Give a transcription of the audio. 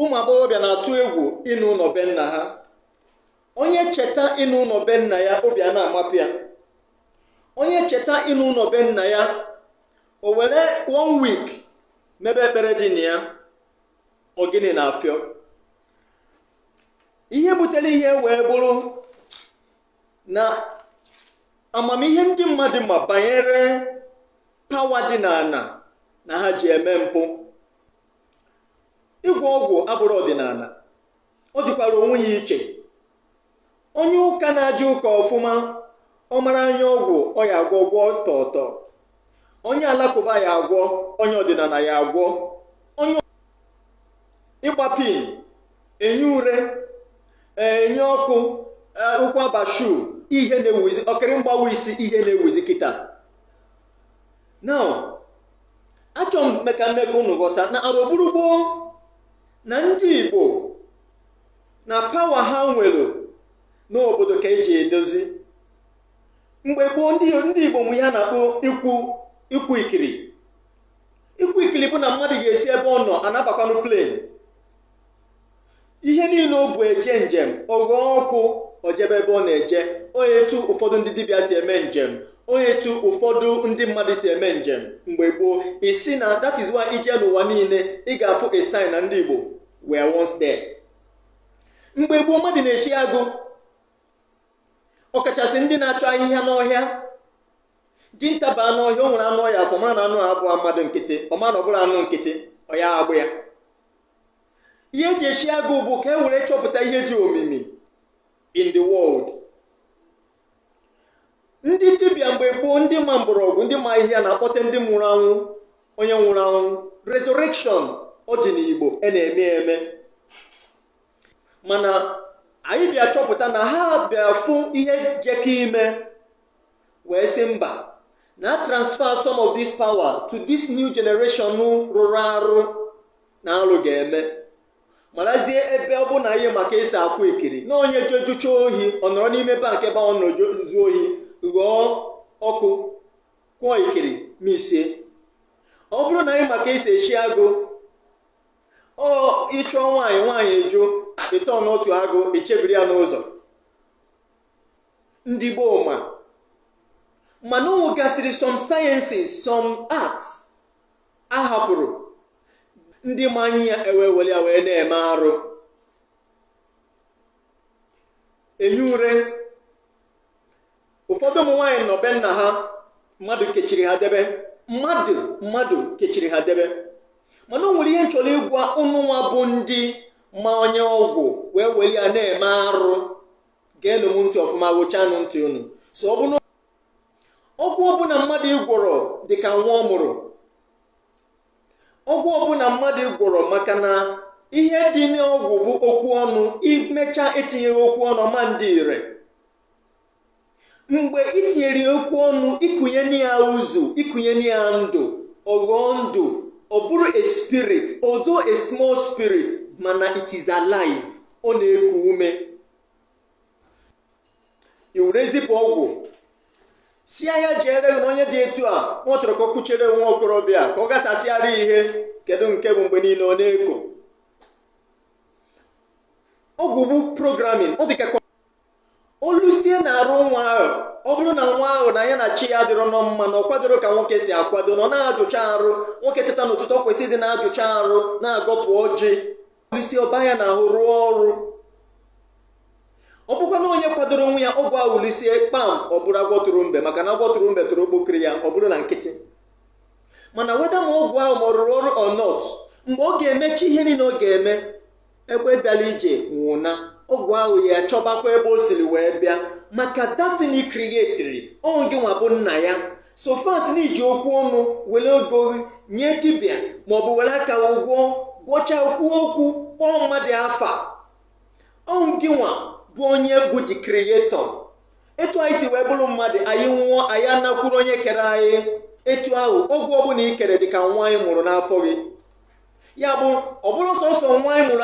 ụmụ agbọghọbịa na-atụ egwu ịna ụlọ be nna ha onye cheta ịna ụlọ be nna ya obi a na-amapụ ya onye cheta ịna ụlọ be nna ya o were one week mebe ekpere dị na ya ọ gịnị na-afịọ ihe butere ihe wee bụrụ na amamihe ndị mmadụ ma banyere pawa dị n'ana na ha ji eme mpụ ịgwọ ọgwụ abụrọ ọdịnana ọ dịkwara onwe ya iche onye ụka na-eje ụka ọfụma ọ mara anya ọgwụ ọ ya agwọ gwọ tọtọ onye alakụba ya agwọ onye ọdịnana ya agwọ onye ịgba pin enyi ure enyi ọkụ ụkwụ abashu ihe na-ewuzi ọkịrị mgbawa isi ihe na-ewuzi kịta now achọ m ime ka m mee ka unu ghọta na arọ buru gboo na ndị igbo na pawa ha nwere n'obodo ka e ji edozi mgbe gboo ndị ndị igbo nwe ihe a na-akpọ ikwu ikwu ekiri ikwu ekiri bụ na mmadụ ga-esi ebe ọ nọ anabakwanụ plane ihe niile o bụ eje njem ọ ghọọ ọkụ o jebe ebe ọ na-eje o nwe etu ụfọdụ ndị dibịa si eme njem o nwe etu ụfọdụ ndị mmadụ si eme njem mgbe gboo isi na that is why i jee n'ụwa niile ị ga-afụ a sign na ndị Igbo were once there mgbe gboo mmadụ na-eshi agụ ọkachasị ndị na-achọ ahịhịa n'ọhịa dinta baa n'ọhịa o nwere anụ ọ ya afụ mara na anụ abụrọ mmadụ nkịtị ọ mara na ọ bụrọ anụ nkịtị ọ ya egbu ya ihe e ji eshi agụ bụ ka e were chọpụta ihe dị omimi in the world ndị dibịa mgbe gboo ndị ma mgbọrọgwụ ndị ma ahịhịa na-akpọte ndị nwụrụ anwụ onye nwụrụ anwụ resurrection ọ dị n'igbo a na-eme eme mana anyị bịa chọpụta na ha bịa fụ ihe jekọ ime wee sị mba na a transfer some of this power to this new generation rụrụ arụ na alụ ga-eme marazie ebe ọ bụrụ na anyị ma ka e si akwụ ekiri na onye je zucha ohi ọ nọrọ n'ime bank ebe ọ nọrọ zuo ohi ghọọ ọkụ kwụọ ekiri ma ise ọ bụrụ na anyị ma ka e si eshi agụ ọ ị chụọ nwaanyị nwaanyị ajụ ị turnụọ to agụ i chebiri ya n'ụzọ ndị gboo ma mana o nwegasịrị some sciences some arts a hapụrụ ndị ma anya ya ewee were ya wee na-eme arụ enye ure ụfọdụ ụmụ nwaanyị nọ be nna ha mmadụ kechiri ha debe mmadụ mmadụ kechiri ha debe mana o nwere ihe m chọrọ ịgwa ụnụ nwa bụ ndị ma anya ọgwụ wee were ya na-eme arụ geenụ m ntị ọfụma ghochanụ ntị unu so ọ bụrụ ọgwụ ọbụla mmadụ ịgwọrọ dị ka nwa ọ mụrụ ọgwụ ọbụla mmadụ gwọrọ maka na ihe dị n'ọgwụ bụ okwu ọnụ i mecha etinyeghị okwu ọnụ ọ ma adị ire mgbe i tinyere ya okwu ọnụ i kunye na ya uzu i kunye na ya ndụ ọ ghọọ ndụ ọ bụrụ a spirit although a small spirit mana it is alive ọ na-eku ume i were zipụ ọgwụ sị ya jere na onye dị etu a nwa chọrọ ka ọ kụchere nwa okorobịa ka ọ gasasịara ihe kedu nke bụ mgbe niile ọ na-eko ọgwụ bụ programming ọ dị ka kọ- o lusie n'arụ nwa ahụ ọ bụrụ na nwa ahụ na ya na chi ya dịrọ nọ mma na ọ kwadoro ka nwoke si akwado na ọ na-ajụcha arụ nwoke teta n'ụtụtụ ọ kwesịrị ịdị na-ajụcha arụ na-agọpụ ọjị o lusie ọ baa ya n'ahụ rụọ ọrụ ọ bụkwa na onye kwadoro onwe ya ọgwụ ahụ o lusie kpam ọ bụrụ agwọ tụrụ mbe maka na agwọ tụrụ mbe tụrụ okpokiri ya ọ bụrụ na nkịtị mana whether ma ọgwụ ahụ ma ọ rụrụ ọrụ or not mgbe ọ ga-emecha ihe niile ọ ga-eme ebe ọbịara ije nwe ụna ọgwụ ahụ achọbakwa ebe o siri wee bịa maka that thing ị create-iri ọ ngị nwa bụ nna ya so far as na i ji okwu ọnụ were ego gị nye dibịa maọbụ were aka gị gwọọ gwọcha kwuo okwu kpọọ mmadụ afa ọ ngị nwa bụ onye bụ the creator etu anyị si wee bụrụ mmadụ anyị nwụọ anyị anakwuru onye kere anyị etu ahụ ọgwụ ọbụla i kere dị ka nwa ị mụrụ n'afọ gị ya bụ ọ bụrụ sọsọ nwa anyị mụrụ